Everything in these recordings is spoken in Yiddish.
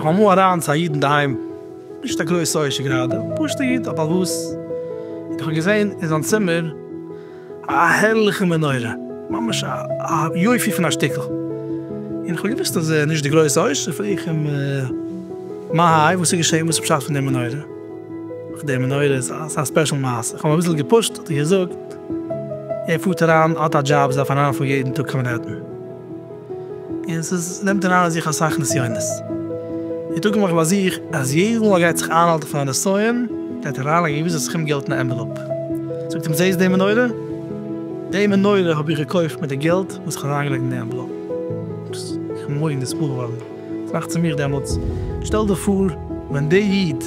קאם אריין צו א איד אינדערהיים, נישט א גרויסע עושר גראדע, פשוטע איד, א בעל הבית, און איך האב געזען אין זיין צימער, א הערליכע מנורה, ממש א יופי פון א שטיקל, און כ'האב געוואוסט אז ער איז נישט די גרויסע עושר, פרעג איך אים מה האי, וואס איז געשען, וואס איז פשט פון די מנורה, אויף די מנורה איז א ספעשל מעשה, כ'האב אים אביסל געפושט, האט ער געזאגט, ער פארט אריין, האט א דזשאב, ער דארף אריינפארן יעדן טאג קיין מענהעטן. און ס'איז נעמט אריין אין זיך אסאך נסיונות. ער טראגט נאך ביי זיך אז יעדעס מאל ער גייט זיך איינהאלטן פון א נסיון גייט ער אריינלייגן א געוויסע סכום געלט אין א ענוועלאפ. זאגט אים זעהסט די מנורה? די מנורה האב איך געקויפט מיט די געלט וואס איך האב אריינגעלייגט אין די ענוועלאפ. איך בין מורא'דיג נצבור געווארן. טראכט צו מיך דעמאלטס, שטעל דיך פאר ווען דער איד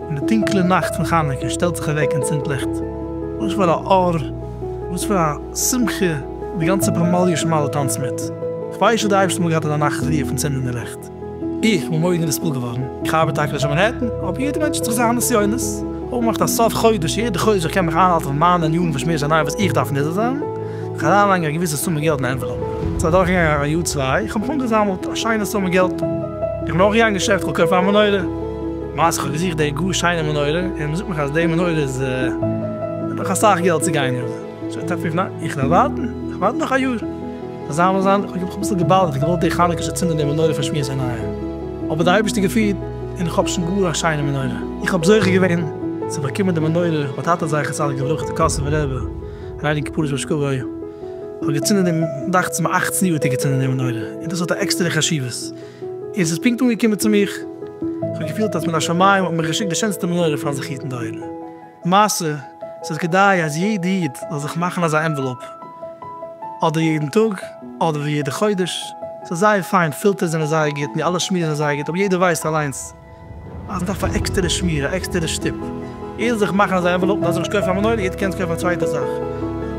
אין די טונקלע נאכט פון חנוכה שטעלט זיך אוועק און צינדט ליכט, וואס פאר א אור, וואס פאר א שמחה, די גאנצע פמליא שמיילער טאנצט מיט. כ'ווייס שוין די אייבערשטער מאל געהאט אזא נחת רוח פון צינדן די ליכט. איך בין מארגן נספל געווארן, איך ארבעט טאקע נישט אין מאנהעטן, אבער יעדער מענטש האט זיך זיינע נסיונות, כ'האב געמאכט א סוף חודש יעדע חודש איך קען מיך איינהאלטן פון מיינע ענינים פון שמועס עניו וואס איך דארף נזהר זיין. אריינלייגן א געוויסע סומע געלט אין א ענוועלאפ. ס'איז אדורכגעגאנגען א יאר צוויי, איך האב אנגעזאמלט א שיינע סומע געלט, איך בין נאכגעגאנגען אין געשעפט כ'וועל קויפן א מנורה, למעשה כ'האב געזוכט די גאר שיינע מנורה, און מ'זאגט מיך אז די מנורה איז נאך אסאך געלט צו גיין און זיי טענה'ן פון ניין איך וועל ווארטן, איך ווארט נאך א יאר, זיי זיין וואס זיין, כ'האב אביסל געבאדערט, איך האב געוואלט די חנוכה ש'צינד אן די מנורה פון שמועס עיניו, אבער די אייבערשטער געפירט און איך האב שוין גאר א שיינע מנורה, איך האב זוכה געווען צו באקומען די מנורה, האט א טאטע זכר צדיק לברכה די קאסובער רבי. רייניגן כפרות באש כגוי האט געצינדן דעם דאכצעס מיר אַכצן יאר האט ער געצינדן די מנורה און דאס האט א עקסטערע חשיבות און ס'איז פונקט אנגעקומען צו מיך איך האב געפילט אז מן השמים האט מיך געשיקט די שענסטע מנורה פארן זיך היטן די אויגן מעשה ס'איז כדאי אז יעדע איד זאל זיך מאכן אזא ענוועלאופ אדער יעדן טאג אדער יעדע חודש ס'איז זייער פיין פילטערס זענען זייער גוט די אלע שמועס זענען זייער גוט אבער יעדער ווייסט אליינס. אז מען דארף א עקסטערע שמיר, א עקסטערע שטופ, איז זיך מאכן אזא ענוועלאופ, מ'דארף זיך נישט קויפן א מנורה, יעצט קענסטו קויפן א צווייטע זאך,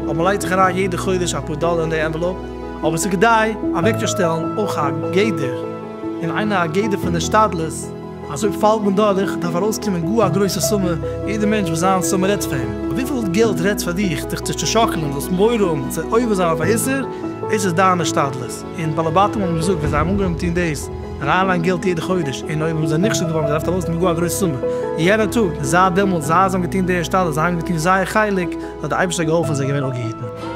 אבער מ'לייגט זיך אריין יעדע חודש אפאר דאלער אין די ענוועלאופ. אבער ס'איז כדאי אוועקצושטעלן אויך א גדר, און איינער א גדר פון השתדלות, אז אויב פאלט מען דורך, דארף ארויסקומען גאר א גרויסע סומע, יעדער מענטש וואס זיין סומע רעדט פאר אים, אבער וויפיל געלט רעדט פאר דיך, דיך צו צעשאקלען, זאלסט מורא האבן צו עובר זיין אויף א איסור, דאס איז דיין השתדלות. און די בעלי בתים האבן געזאגט ווען זיי האבן אנגעהויבן טון דאס רייע ליין געלט יעדע חודש און אויב האבן זיי נכשל געווארן האבן זיי געדארפט ארויס נעמען גאר א גרויסע סומע יענע טאג, זייט דעמאלטס זייט זיי האבן געטון די השתדלות זיי האבן געטון זייער חלק האט די אייבערשטער געהאלפן זיי געווען אפגעהיטן.